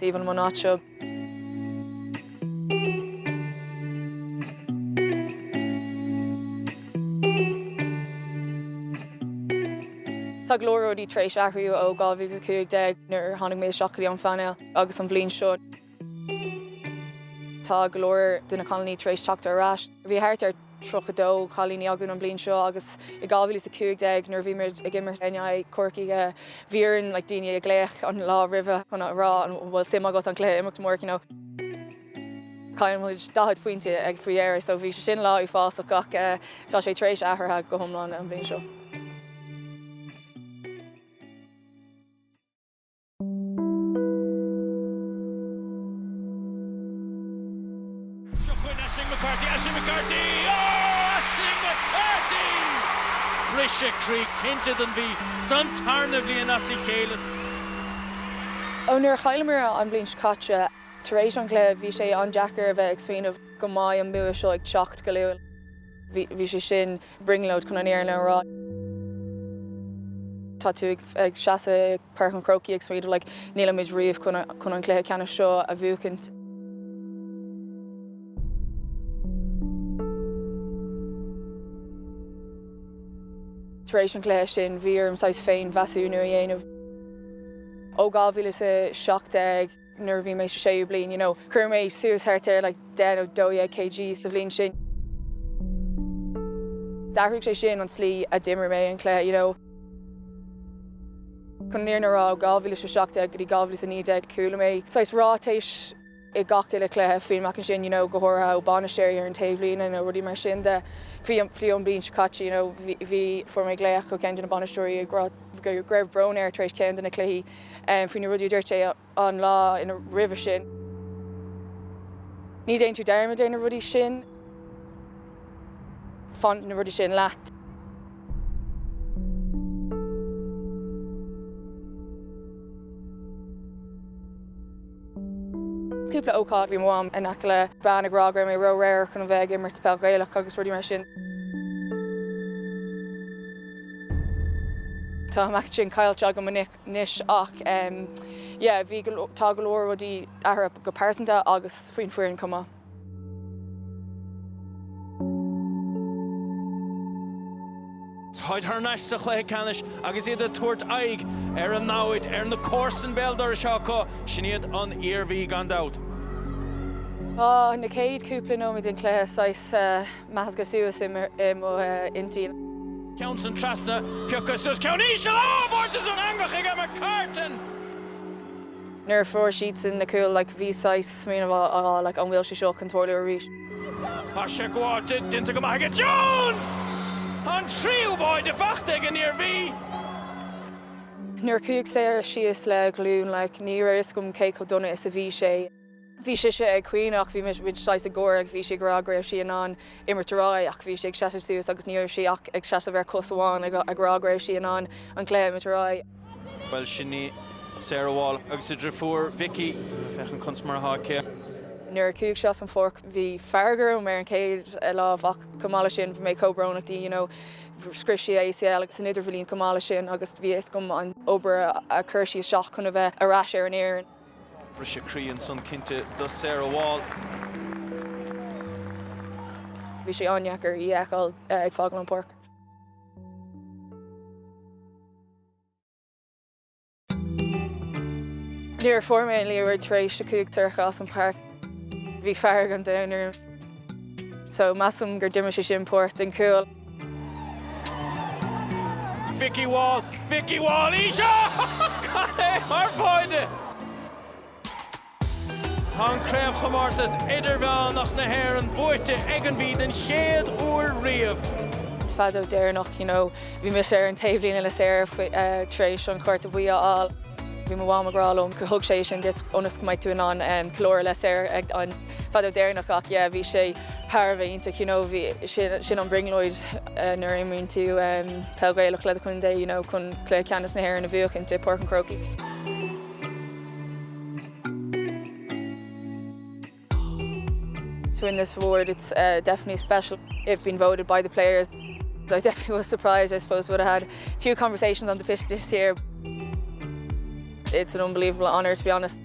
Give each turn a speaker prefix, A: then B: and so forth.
A: Domh, an mbliain seo. Tá go leor rudaí tar éis athrú ó 2015 nuair a tháinig mé isteach go dtí an phainéal agus an bhliain seo. Tá go leor de na cailíní tar éis teacht ar ais. Bhí thart ar 32 chailíní againn an bhliain seo agus i 2015 nuair a bhí muid ag imirt in aghaidh Corcaigh bhí orainn like daoine a ghlaoch an lá roimhe chun a rá an bhfuil suim agat an cluiche a imirt amárach you know. Chaill muid 40 pointe faoi dheireadh so bhí sé sin lá uafásach ach tá sé tar éis athraithe go hiomlán an bhliain seo.
B: Seo chugainn Aisling McCarthy, Aisling McCarthy, oh Aisling McCarthy! Briseadh croí cinnte don Mhí don tarna bhliain as a chéile.
A: Ó nuair a chailleamar an bhliain seo caite, tar éis an chluiche, bhí sé an-deacair a bheith ag smaoineamh go mbeidh an bua seo ag teacht go luath. Bhí sé sin brionglóid chun an fhírinne a rá. Tá tú ag seasamh i Páirc an Chrócaigh ag smaoineamh like nílimid riamh chun an cluiche ceannais seo a bhuachaint. Tar éis an chluiche sin bhí orm saghas féin-mheasúnú a dhéanamh. Ó 2017. nuair a bhí mé sa séú bliain, you know, chuir mé suas thart ar like deich nó dó dhéag kg sa bhliain sin. D'athraigh sé sin an tslí a d'imir mé an cluiche, you know. Chun an fhírinne a rá, ó dhá mhíle is a seacht déag go dtí dhá mhíle is a naoi déag, chuala mé saghas ráitéis i gach uile chluiche faoin meáchan sin, you know, go háirithe ó bainisteoirí ar an taobhlíne and rudaí mar sin de. Fiú an bhliain seo caite, you know, bhí, bhí, fuair mé glaoch ó cheann de na bainisteoirí ag rá go raibh brón air tar éis ceann de na cluichí, faoi na rudaí a dúirt sé an lá ina roimhe sin. Ní dhéanann tú dearmad ar na rudaí sin. Fanann na rudaí sin leat. Cúpla ócáid bhí mo mham in aice le bean ag rá go raibh mé róramhar chun a bheith ag imirt peil Ghaelach agus rudaí mar sin. Tá an meáchan sin caillte agam anois ach yeah bhí go leor, tá go leor rudaí athraithe go pearsanta agus faoin foireann chomh maith.
B: Táid thar n-ais sa chluiche ceannais agus iad ag tabhairt aghaidh ar a namhaid, ar na comharsain béal dorais seo acu, sin iad an Iarmhí gan dabht.
A: Tá na céad cúpla nóiméad den chluiche saghas measctha suas i mo intinn. Ceann san
B: trasna, piocadh suas, ceann íseal, ábhar! Tá san eangach ag McCartan!
A: Nuair a fuair siadsan na cúil, like, bhí saghas smaoineamh acu, like, an bhfuil sé seo chun tarlú arís? Tá sé
B: gaibhte, déanta go maith aige Jones! An tríú báide faighte ag an Iarmhí!
A: Nuair a chuaigh Sarah síos le a ghlúin, like, ní raibh fhios agam cé chomh dona is a bhí sé. bhí sise ag caoineadh, bhí muid saghas ag gáire agus bhí sí ag rá go raibh sí in ann imirt ar aghaidh ach bhí sí ag seasamh suas agus ní raibh sí ach ag seasamh ar chos amháin ag rá go raibh sí in ann an cluiche a imirt ar aghaidh. Bhuel, sin
B: í Sarah Wall agus a driofúr Vikki. Féachaint conas mar atá aici. Nuair a
A: chuaigh sí as an pháirc bhí fearg orm ar an chéad lámh ach chomh maith leis sin bhí mé chomh brónach di you know scrios sí a ACL san idirbhliain chomh maith leis sin agus bhí a fhios agam an obair a chuir sí isteach chun a bheith ar ais ar an fhoireann. Briseadh
B: croí ansan cinnte do Sarah
A: Wall. Bhí sé an-deacair í a fheiceáil ag fágáil an páirc. Nuair a fuair mé an liathróid tar éis a chuaigh Sorcha as an páirc. Bhí fearg an domhain orm. So measaim gur d'imir sé sin páirt den chúl.
B: Vikki Wall, Vikki Wall, Laoise! Cad é mar bháide! Tá an Craobhchomórtas Idirmheánach na hÉireann buaite ag an Mhí den chéad uair riamh.
A: Feadóg deireanach, you know, bhí mise ar an taobhlíne le Sarah tar éis an Chárta Buí a fháil. Bhí mo mham ag rá liom gur thug sé é sin duit ionas go mbeidh tú in ann ceiliúradh le Sarah ag an. Feadóg deireanach ach yeah bhí sé thar a bheith iontach you know bhí sin an brionglóid nuair a imríonn tú peil Ghaelach le do chontae you know chun cluiche ceannais na hÉireann a bhuachaint i bPáirc an Chrócaigh. To win this award it's definitely special I've been voted by the players I definitely was surprised I suppose would have had a few conversations on the pitch this year It's an unbelievable honour to be honest.